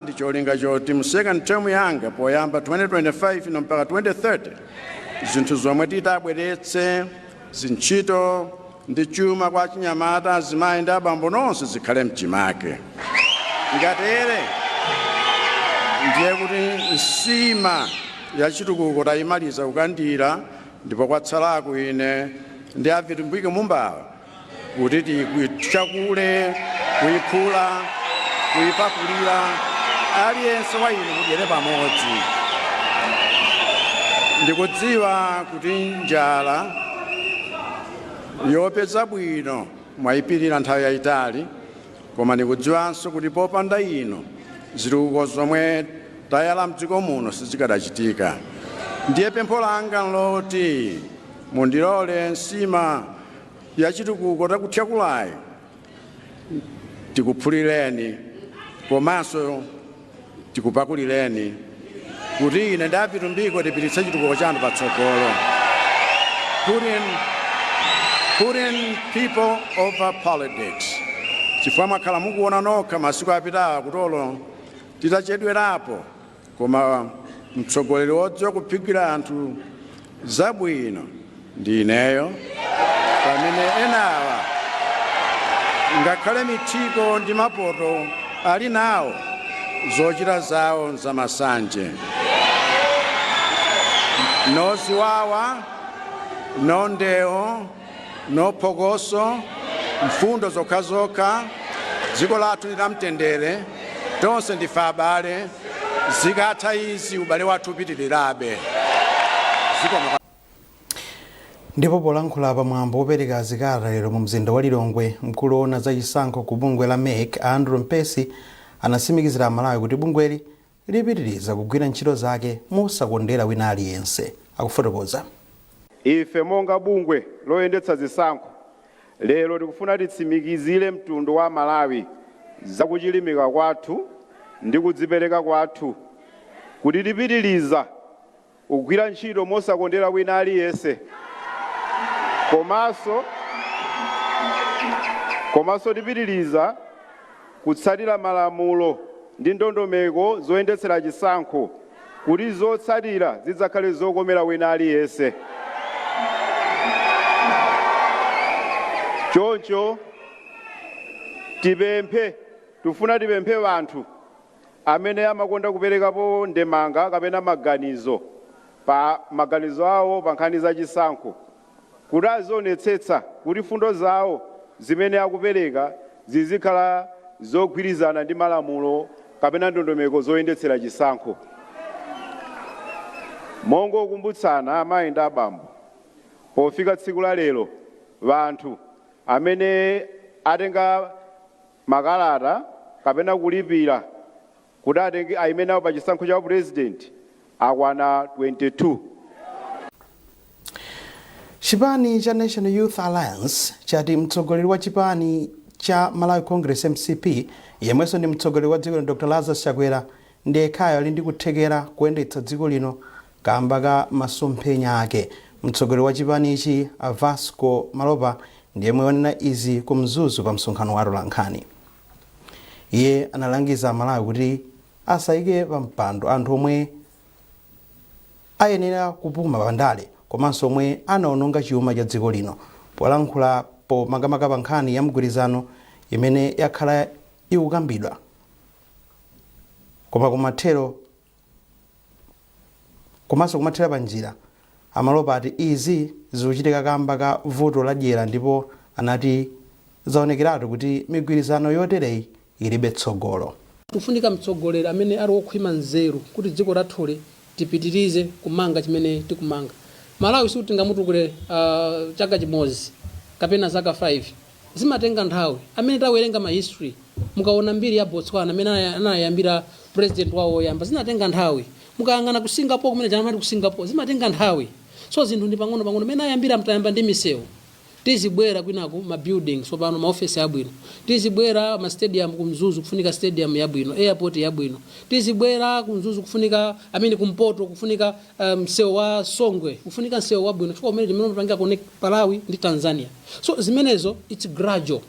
ndi cholinga choti mu second term yanga poyamba 2025 ino mpaka 2030 zinthu zomwe titabweretse zintchito ndi chuma kwa achinyamata azimayi ndi abambo nonse zikhale mchimake ngatere ndiye kuti nsima ya chitukuko tayimaliza kukandira ndipo kwatsalaku ine ndi a Vitumbiko Mumbawa kuti tikuthyakule kuiphula kuipakulira aliyense wa inu mudyere pamodzi ndikudziwa kuti njala yopeza bwino mwayipirira nthawi yayitali koma ndikudziwanso kuti popanda inu zitukuko zomwe tayala mdziko muno sizikadachitika ndiye pempho langa nloti mundilole nsima yachitukuko takuthyakulayi tikuphulireni komanso tikupakulireni kuti ine ndi a Vitumbiko tipititse chitukuko chanu patsogolo. Putting people over politics. Chifukwa mwakhala mukuona nokha masiku apitawa kuti olo titachedwerapo Koma mtsogoleri wodziwa kuphikira anthu zabwino ndi ineyo pamene enawa ngakhale mithiko ndi mapoto ali nawo zochita zawo nzamasanje. No ziwawa, no ndewo. No phokoso, mfundo zokhazokha, dziko lathu ndi lamtendere, tonse ndife abale, zikatha izi ubale wathu upitilirabe. Ndipo polankhula pa mwambo wopereka zikalata lero mu mzinda wa Lilongwe, mkulu woona za chisankho ku bungwe la MEC a Andrew Mpesi anatsimikizira Amalawi kuti bungweli lipitiriza kugwira ntchito zake mosakondera wina aliyense, akufotokoza. Ife monga bungwe loyendetsa zisankho lero tikufuna titsimikizire mtundu wa Amalawi za kuchilimika kwathu ndi kudzipereka kwathu kuti tipitiriza Kugwira ntchito mosakondera wina aliyense komanso komanso tipitiliza kutsatira malamulo ndi ndondomeko zoyendetsera chisankho kuti zotsatira zidzakhale zokomera wina aliyense. Choncho tipemphe, tifuna tipemphe anthu. amene amakonda kuperekapo ndemanga kapena maganizo pa maganizo awo pa nkhani za chisankho kuti azionetsetsa kuti fundo zawo zimene akupereka zizikhala zogwirizana ndi malamulo kapena ndondomeko zoyendetsera chisankho. Mongokumbutsana amayi ndi abambo, pofika tsiku la lero wanthu amene atenga. makalata kapena kulipira kuti atenge aime nawo pa chisankho cha upulezidenti akwana 22. Chipani cha National Youth Alliance chati mtsogoleri wa chipani cha Malawi Congress, mcp, yemwenso ndi mtsogoleri wa dziko lino Dr Lazarus Chakwera ndi yekhayo ali ndi kuthekera kuyendetsa dziko lino Kamba ka masomphenya ake, mtsogoleri wa chipanichi a Vasco Malopa ndi yemwe wanena izi ku Mzuzu pa msonkhano wa atolankhani. Iye analangiza Amalawi kuti asayike pa mpando anthu omwe ayenera kupuma pa ndale komanso omwe anaononga chiuma cha dziko lino. Polankhulapo makamaka pa nkhani ya mgwirizano imene yakhala ikukambidwa koma kumathero, komanso kumathera pa njira. A Malopa ati izi zikuchitika kamba ka vuto la dyera ndipo anati zaonekeratu kuti migwirizano yotereyi ilibe tsogolo. Kufunika mtsogoleri amene ali okhwima nzeru kuti dziko lathuli tipitirize kumanga chimene tikumanga. Malawi sikuti tingamutukule chaka chimodzi kapena zaka 5. Zimatenga nthawi. Amene tawerenga ma history mukawona mbiri ya Botswana mene anayambira president wawo woyamba zinatenga nthawi. Mukayang'ana ku Singapore kumene aja amati ku Singapore zimatenga nthawi. So zinthu ndi pang'ono pang'ono mene ayambira tayamba ndi misewu tizibwera kwinaku ma building tsopano ma office abwino tizibwera ma stadium ku Mzuzu kufunika stadium yabwino airport yabwino tizibwera ku Mzuzu kufunika I mean kumpoto kufunika eh, msewu wa songwe kufunika msewu wabwino chifukwa umene timene umapangira connect malawi ndi tanzania so zimenezo its gradual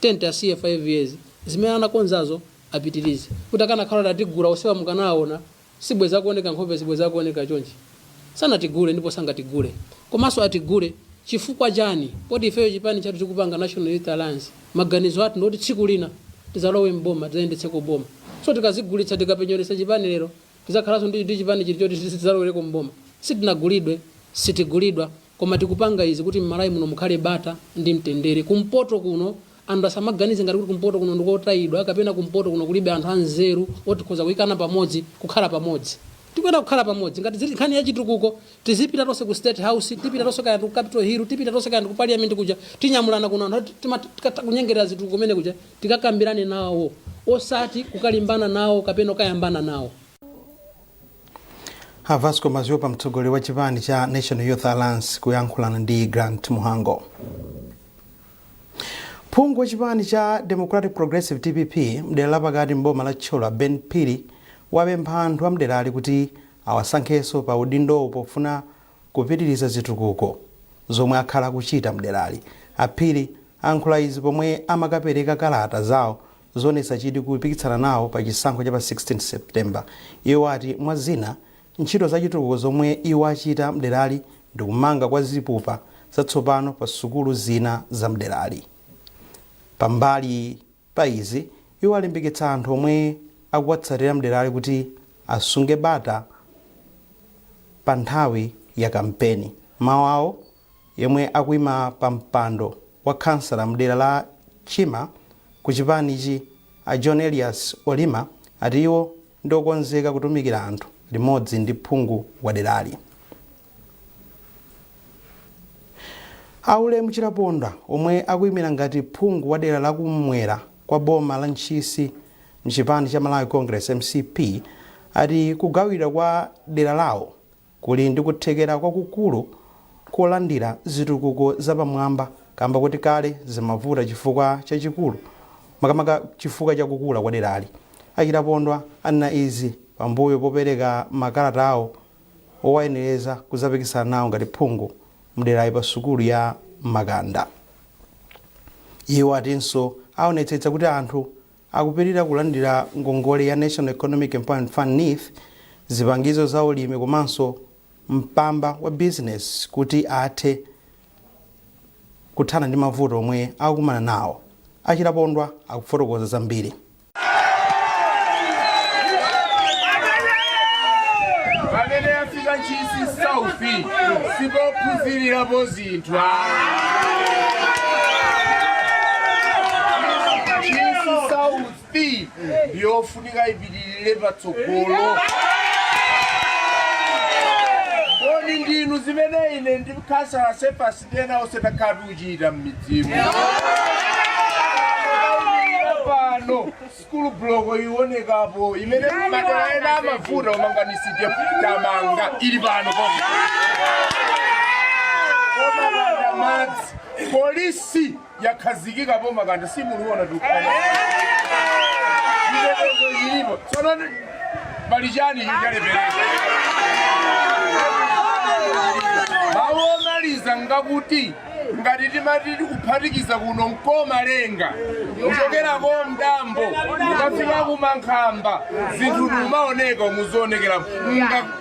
ten to five years zimene anakonzazo apitirize kuti akanakhala atigula osewa mukanaona sibweza kuoneka nkhope sibweza kuoneka chonchi sanatigule ndipo sangatigule komanso atigule chifukwa chani poti ifeyo chipani chathu chikupanga national youth alliance maganizo athu ndoti tsiku lina tizalowe mboma tizayendetseko boma so tikazigulitsa tikapenyeretsa chipani lero Tidzakhalanso ndi ndi chipani chiti choti tidzalowereko m'boma? Sitinagulidwe, sitigulidwa koma tikupanga izi kuti m'Malawi muno mukhale bata ndi mtendere. Kumpoto kuno anthu asamaganize ngati kuti kumpoto kuno ndi kotayidwa kapena kumpoto kuno kulibe anthu anzeru oti tikhoza kuyikana pamodzi, kukhala pamodzi. Tikuyenera kukhala pamodzi. Ngati zili nkhani ya chitukuko tizipita tonse ku State House, tipita tonse kaya ndi ku Capital Hill, tipita tonse kaya ndi ku Parliament kuja, tinyamulana kuno anthu oti timatha kunyengerera zitukuko kumene kuja. Tikakambirane nawo, osati kukalimbana nawo kapena kukayambana nawo. A Vasco Maziupa mtsogoleri wa chipani cha National Youth Alliance kuyankhulana ndi Grant Muhango. Phungu wa chipani cha Democratic Progressive DPP mdera lapakati mboma la Thyolo Ben Phiri wapempha anthu amderali kuti awasankhenso pa udindowu pofuna kupitiliza zitukuko zomwe akhala akuchita mderali. A Phiri ayankhula izi pomwe amakapereka kalata zawo zoonetsa chidwi kupikisana nawo pa chisankho cha pa 16 September. Iwo ati mwa zina, ntchito za chitukuko zomwe iwo achita mderali ndi kumanga kwa zipupa zatsopano pa sukulu zina za mderali. Pambali pa izi, iwo alimbikitsa anthu omwe akuwatsatira mderali kuti asunge bata pa nthawi ya kampeni. M'mau awo, yemwe akuima pa mpando wa khansala mdera la Chima ku chipanichi a John Elias Olima ati iwo ndi okonzeka kutumikira anthu limodzi ndi phungu waderali. A Ulemu Chilapondwa omwe akuimira ngati phungu wa dera la kum'mwera kwa boma la Ntchisi mchipani cha Malawi Congress, MCP, ati kugawidwa kwa dera lawo kuli ndi kuthekera kwakukulu kolandira zitukuko zapamwamba kamba koti kale zimavuta chifukwa chachikulu makamaka chifukwa cha kukula kwa derali. A Chilapondwa anena izi pambuyo popereka makalata awo owayenereza kudzapikisana nawo ngati phungu mderali pa sukulu ya Makanda. Iwo atinso aonetsetsa kuti anthu akupitirira kulandira ngongole ya National Economic Empowerment Fund NEEF, zipangizo za ulimi komanso mpamba wa bizinesi kuti athe kuthana ndi mavuto omwe akukumana nawo. A Chilapondwa akufotokoza zambiri. pamene yafika Ntchisi South sipophunzirirapo zinthu Ntchisi South ndiyofunika ipitirire patsogolo kodi ndimu zimene ine ndi khansala Sefasi Tiyenera onse takhala tikuchita m'midzimo. Tikayimirira pano sukulu bloko iwonekapo imene madera ena amavuta umanganisije tamanga ili pano koma. Makanda madzi polisi yakhazikikapo makanda simunaone chitetezo chilipo tsono pali chani chalepereka mawu omaliza ndi akuti ngati timati tikuphatikiza kuno mkomalenga kuchokera ku mdambo ukafika kumankhamba zinthu zimaoneka muzionekera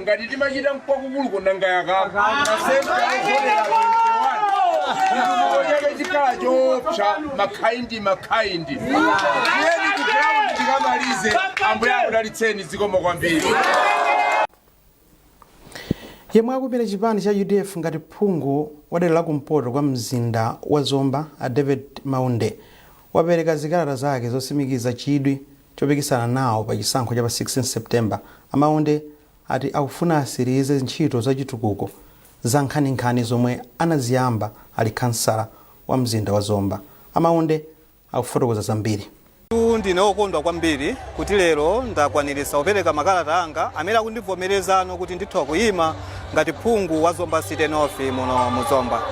ngati timachita mkwakukuluko nanga yakaka chitukuko chake chikhala choopsa makhaindi makhaindi tiyeni ku ground tikamalize ambuye akudalitseni zikomo kwambiri yemwe akuimira chipani cha udf ngati phungu wa dera la kumpoto kwa mzinda wa zomba a david maunde wapereka zikalata zake zosimikiza chidwi Chopikisana nawo pa chisankho cha pa 16 September, a Maunde ati akufuna asilize ntchito za chitukuko za nkhaninkhani zomwe anaziyamba ali khansala wa mzinda wa Zomba. A Maunde akufotokoza zambiri. Ndine wokondwa kwambiri kuti lero ndakwaniritsa kupereka makalata anga amene akundivomerezano kuti nditha kuyima ngati phungu wa Zomba City North muno mu Zomba.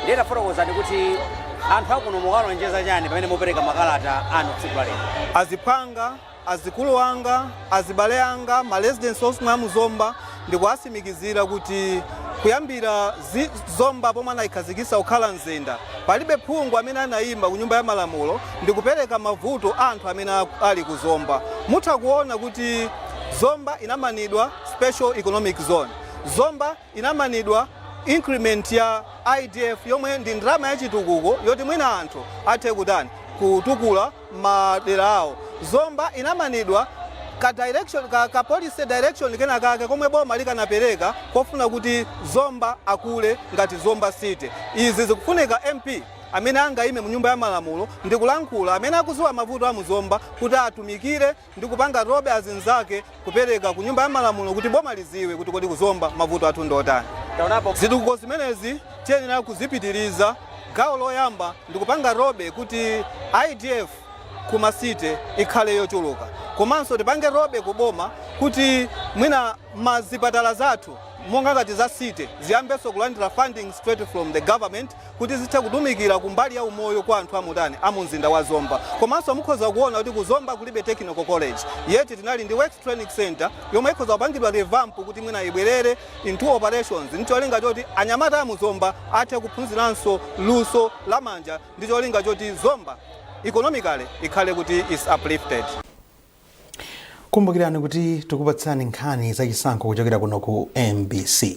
Nde tafotokozani kuti anthu akuno mukuwalonjeza chani pamene mupereka makalata anu tsiku la lero? Aziphwanga, azikulu anga, azibale anga, ma residents onse a mu Zomba ndikuwasimikizira kuti kuyambira zi, Zomba pomwe anayikhazikisa kukhala mzinda palibe phungu amene anayima ku nyumba ya malamulo ndikupereka mavuto a anthu amene a- ali ku Zomba. Mutha kuona kuti Zomba inamanidwa Special Economic Zone. Zomba inamanidwa increment ya IDF yomwe ndi ndalama yachitukuko yoti mwina anthu athe kutani kutukula madera awo. Zomba inamanidwa ka policy direction kena kake komwe boma likanapereka kofuna kuti Zomba akule ngati Zomba City. Izi zikufunika MP amene angayime mu nyumba ya malamulo ndi kulankhula amene akuziwa mavuto a mu Zomba kuti atumikire ndi kupanga lobby azinzake kupereka ku nyumba ya malamulo kuti boma liziwe kuti kodi ku zomba mavuto athu ndiotani zitukuko zimenezi tiyenera kuzipitiriza gawo loyamba ndi kupanga lobby kuti idf ku ma city ikhale yochuluka komanso tipange lobby ku boma kuti mwina mazipatala zathu monga ngati za city ziyambenso kulandira funding straight from the government kuti zithe kutumikila kumbali ya umoyo kwa anthu amutani amumzinda wa Zomba komanso mukhoza kuona kuti ku Zomba kulibe technical college yet tinali ndi works training centre yomwe ikhoza kupangidwa revamp kuti mwina ibwelere into operations ndi cholinga choti anyamata amu Zomba athe kuphunzilanso luso la manja ndi cholinga choti Zomba economically ikhale kuti is uplifted. Kumbukirani kuti tikupatsirani nkhani za chisankho kuchokera kuno ku mbc.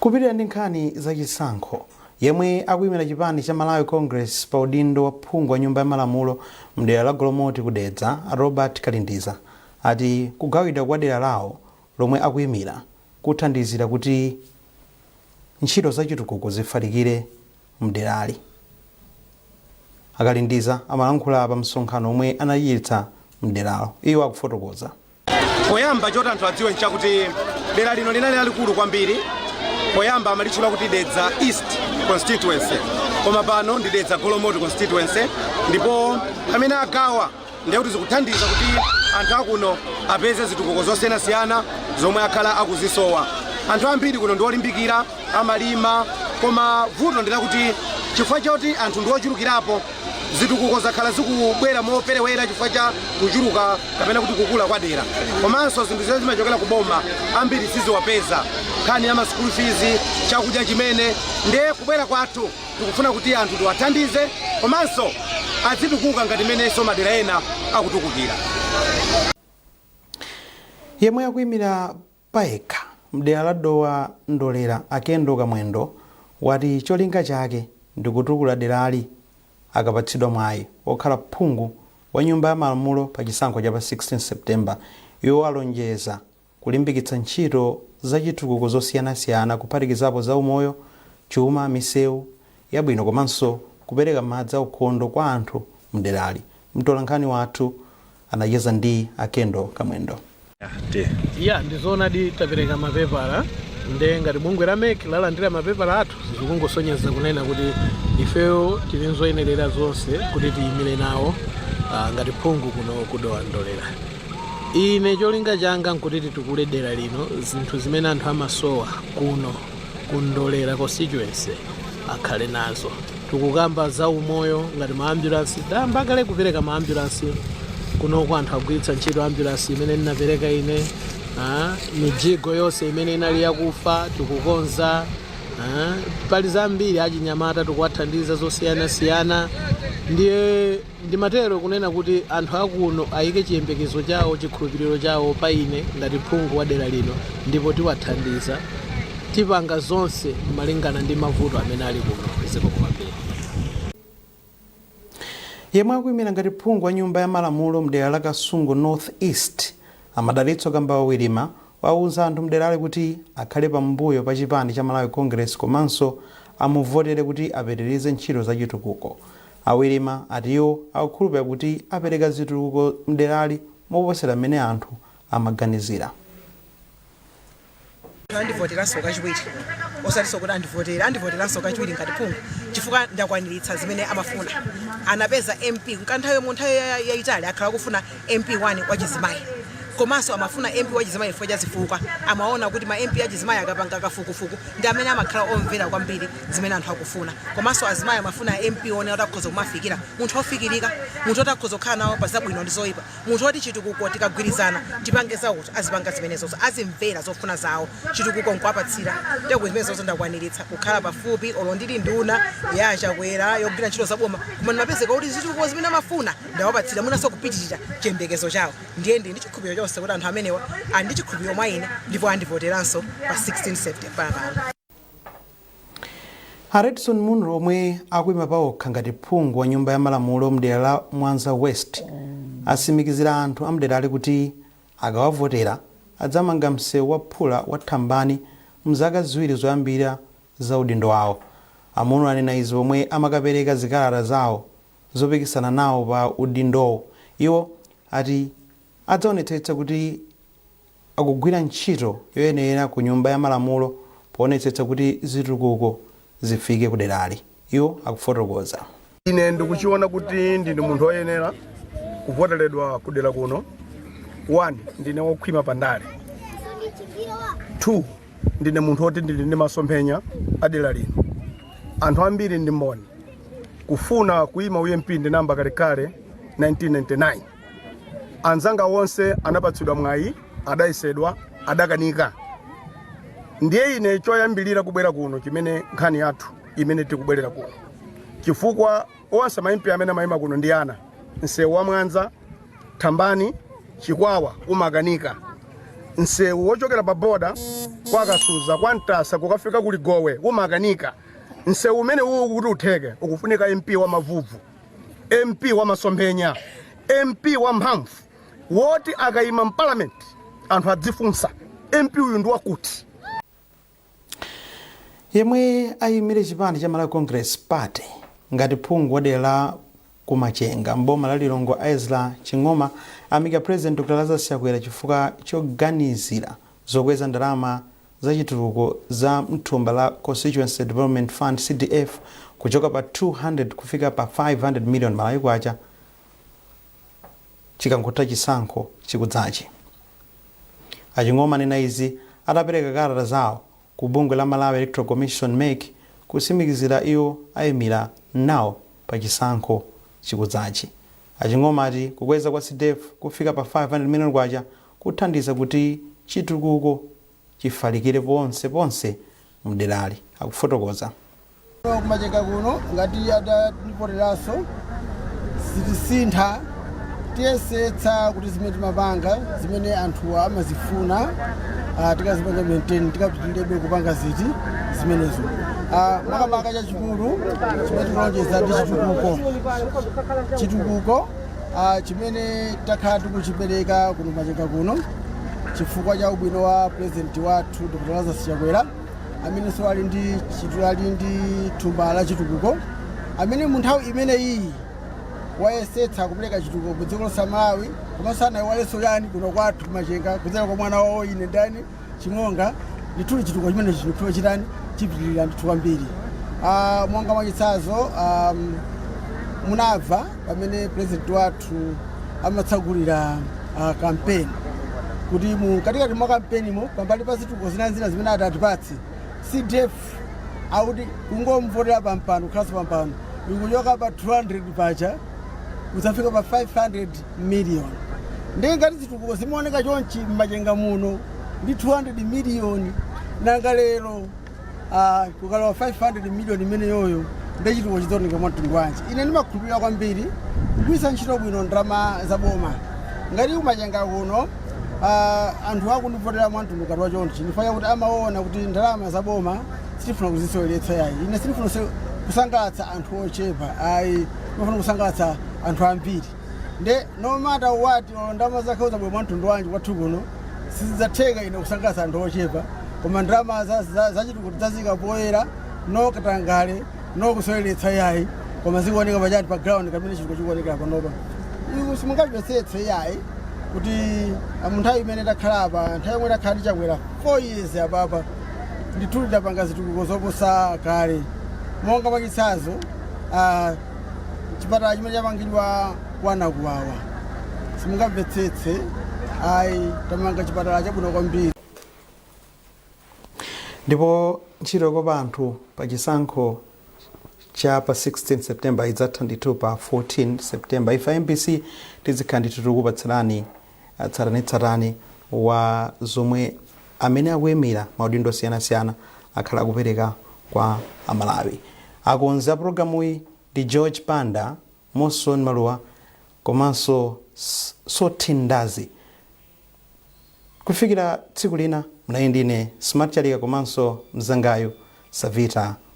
Kupitira ndi nkhani za chisankho Yemwe akuyimira chipani cha Malawi Congress pa udindo wa phungu wa nyumba ya malamulo mdera la Golomoti ku Dedza a Robert Kalindiza ati kugawidwa kwa dera lawo lomwe akuyimira kuthandizira kuti ntchito za chitukuko zifalikire mderali. A Kalindiza amalankhula pa msonkhano omwe anachititsa mderalo. Iwo akufotokoza. poyamba choti anthu adziwe nchakuti dera lino linali lalikulu kwambiri poyamba amalitchula kuti dedza east constituency koma pano ndi dedza golomoti constituency ndipo pamene agawa ndiye kuti zikuthandiza kuti anthu akuno apeze zitukuko zosiyanasiyana zomwe akhala akuzisowa anthu ambiri kuno ndiwolimbikira amalima koma vuto ndilakuti chifukwa choti anthu ndiwochulukirapo Zitukuko zakhala zikubwera moperewera chifukwa cha kuchuluka kapena kuti kukula kwa dera komanso zinthu zimene zimachokera ku boma ambiri siziwapeza nkhani ya ma school fees, chakudya chimene ndiye kubwera kwathu tikufuna kuti anthu tiwathandize komanso adzitukuka ngati mmenenso madera ena akutukukira. Yemwe akuimira payekha mdera la Dowa Ndolera a Kendal Kamwendo wati cholinga chake ndikutukula derali akapatsidwa mwayi okhala phungu wa nyumba ya malamulo pa chisankho cha pa 16 September. Iwo alonjeza kulimbikitsa ntchito zachitukuko zosiyanasiyana kuphatikizapo zaumoyo, chuma, misewu, yabwino komanso kupereka madzi aukhondo kwa anthu mderali. Mtolankhani wathu anacheza ndi a Kendall Kamwendo. Ya, ndizoonadi tapereka mapepala nde ngati bungwe la mec lalandira mapepala athu zikungosonyeza kunena kuti ifeyo tili nzoyenerera zonse kuti tiyimire nawo ah, ngati phungu kuno kudowa ndolera ine cholinga changa nkuti titukule dera lino zinthu zimene anthu amasowa kuno ku ndolera constituency akhale nazo tikukamba za umoyo ngati maambulansi tayamba kale kupereka maambulansi kunoko anthu agwiritsa ntchito ambulansi imene ninapereka ine ah, mijigo yonse imene inali yakufa tikukonza ah, pali zambiri achinyamata tikuwathandiza zosiyanasiyana ndiye Ndimatero kunena kuti anthu a kuno ayike chiyembekezo chawo, chikhulupiliro chawo pa ine ngati phungu wa dera lino ndipo tiwathandiza. Tipanga zonse malingana ndi mavuto amene ali kuno. Zikomo kwambiri. Yemwe akuyimira ngati phungu wa nyumba ya malamulo mdera la Kasungu North East, a Madalitso Kambauwa Wirima, wawuza anthu mderali kuti akhale pambuyo pa chipani cha Malawi Congress komanso amuvotere kuti apitilize ntchito za chitukuko. A Wirima ati iwo akukhulupirira kuti apereka zitukuko mderali moposera mmene anthu amaganizira. Anthu andivoteranso kachiwiri, osatinso kuti andivotere, andivoteranso kachiwiri ngati phungu chifukwa ndakwaniritsa zimene amafuna. Anapeza MP mkanthawi mu nthawi yayitali akhala akufuna MP 1 wachizimayi komanso amafuna MP wachizimayi chifukwa cha zifukwa amaona kuti ma MP achizimayi akapanga kafukufuku ndi amene amakhala omvera kwambiri zimene anthu akufuna komanso azimayi amafuna mp one oti akhoza kumafikira munthu ofikirika munthu oti akhoza kukhala nawo pa zabwino ndi zoyipa munthu oti chitukuko tikagwirizana tipange zakuti azipanga zimenezozo azimvera zofuna zawo chitukuko nkuwapatsira ndiye kuti zimenezozo ndakwaniritsa kukhala pafupi olo ndili nduna ya achakwera yogwira ntchito zaboma koma ndimapezeka kuti zitukuko zimene amafuna ndawapatsira mwinanso kupitirira chiyembekezo chawo ndiye ndili ndi chikhulupiriro chonse kuti anthu amenewa ali ndi chikhulupiriro mwa ine ndipo andivoteranso pa 16 september pano A Redson Munlo omwe akuima paokha ngati phungu wa nyumba ya malamulo mdera la Mwanza West asimikizira anthu amderali kuti akawavotera adzamanga mseu wa phula wa Thambani mzaka ziwiri zoyambira za udindo wawo. A Munlo anena izi pomwe amakapereka zikalata zawo zopikisana nawo pa udindowo. Iwo ati adzaonetsetsa kuti. akugwira ntchito yoyenera ku Nyumba ya Malamulo poonetsetsa kuti zitukuko zifike kuderali, iwo akufotokoza. Ine ndikuchiona kuti ndine munthu oyenera kuvoteredwa kudera kuno. One, ndine wokhwima pa ndale. Two, ndine munthu woti ndili ndi masomphenya a dera lino. Anthu ambiri ndi mboni kufuna kuima u MP ndinayamba kalekale 1999. anzanga wonse anapatsidwa mwayi adayesedwa adakanika ndiye ine choyambirira kubwera kuno chimene nkhani yathu imene tikubwerera kuno chifukwa onse maimpi amene amayima kuno ndi ana msewu wa mwanza thambani chikwawa umakanika msewu wochokera pa boda kwa kasuza kwa mtasa kukafika ku ligowe umakanika msewu umene uwu kuti utheke ukufunika mp wa mavuvu mp wa masomphenya mp wa mphamvu woti akayima mparliament anthu adzifunsa mp uyu ndi wakuti yemwe ayimire chipani cha malawi congress party ngati phungu wa dera la kumachenga mboma la lilongwe ezra ching'oma amika president dr lazarus chakwera chifukwa choganizira zokweza ndalama za chitukuko za mthumba la Constituency Development Fund, CDF, kuchoka pa 200 kufika pa 500 million Malawi Kwacha chikangotha chisankho chikudzachi. A Ching'oma anena izi atapereka kalata zawo ku bungwe la Malawi Electoral Commission, mec, kutsimikizira kuti iwo ayimira nawo pa chisankho chikudzachi. A Ching'oma ati kukweza kwa CDF kufika pa 500 million Kwacha kuthandiza kuti chitukuko chifalikire ponse ponse mderali, akufotokoza. Kumachenga kuno ngati atativoteranso sitisintha, tiyesetsa kuti zimene timapanga zimene anthuwa amazifuna tikazipanga maintain, tikapitirirebe kupanga ziti, zimenezo. Makamaka chachikulu chimene tikulonjeza ndi chitukuko, chitukuko. ah, chimene takhala tikuchipereka kuno kumachenga kuno chifukwa cha ubwino wa purezidenti wathu dr lazarus chakwera amenenso ali ndi chitu- ali ndi thumba la chitukuko amene mu nthawi imeneyiyi wayesetsa kupereka chitukuko ku dziko lonse la malawi komanso asayiwalenso yani kuno kwathu kumachenga kudzera kwa mwana wawo ine ndani ching'oma ndithudi chitukuko chimenechi chikufunika chitani chipitirire ndithu kwambiri Ah, monga mwachitsanzo um, munamva pamene president wathu amatsegulira ah, kampeni kuti mu katikati mwa kampenimo pambali pa zitukuko zinazina zimene atatipatse cdf akuti kungomvotera pampano kukhalanso pampano ikuchoka pa 200 paja kudzafika pa 500 million ndiye ngati zitukuko zimaoneka chonchi m'machenga muno ndi 200 million nanga lero ah, kukalowa 500 million imeneyoyo ndiye chitukuko chidzaoneka mwa mtundu wanji ine ndimakhulupirira kwambiri kugwiritsa ntchito bwino ndalama za boma ngati kumachenga kuno ah, anthu akundivotera mwa mtundu ngati wachonchi n'chifukwa choti amaona kuti ndalama za boma sitifuna kuziseweretsa yayi ine sindifuna kuse- kusangalatsa anthu ochepa ayi ndifuna kusangalatsa anthu ambiri Nde no matter what olo ndalama zake zizabwera mwa mtundu wanji kwathu kuno sizidzatheka ine kusangalatsa anthu ochepa koma ndalama za- za- zachitukuko tidzazika poyera no katangale no kuseweretsa yayi koma zikuoneka pachati pa ground mmene chitukuko chikuonekera panopa iku simungachipesetse yayi kuti ah, mu nthawi imene takhala apa nthawi yomwe takhala ndi Chakwera 4 years apapa ndithu tidapanga zitukuko zoposa kale monga mwachitsanzo ah, chipatala chimene chamangidwa kwa Nakuwawa simungamvetsetse ayi tamanga chipatala chabwino kwambiri ndipo ntchito yokopa anthu pa chisankho cha pa 16 september idzatha ndithu pa 14 september ife mbc tizikhala ndithu tikupatsirani tsatanetsatane wa zomwe amene akuimira maudindo osiyanasiyana akhala akupereka kwa amalawi akonzi a pulogalamuyi ndi george banda moson maluwa komanso S- sotin ndazi kufikira tsiku lina munali ndi ine smart chalika komanso mzangayu savita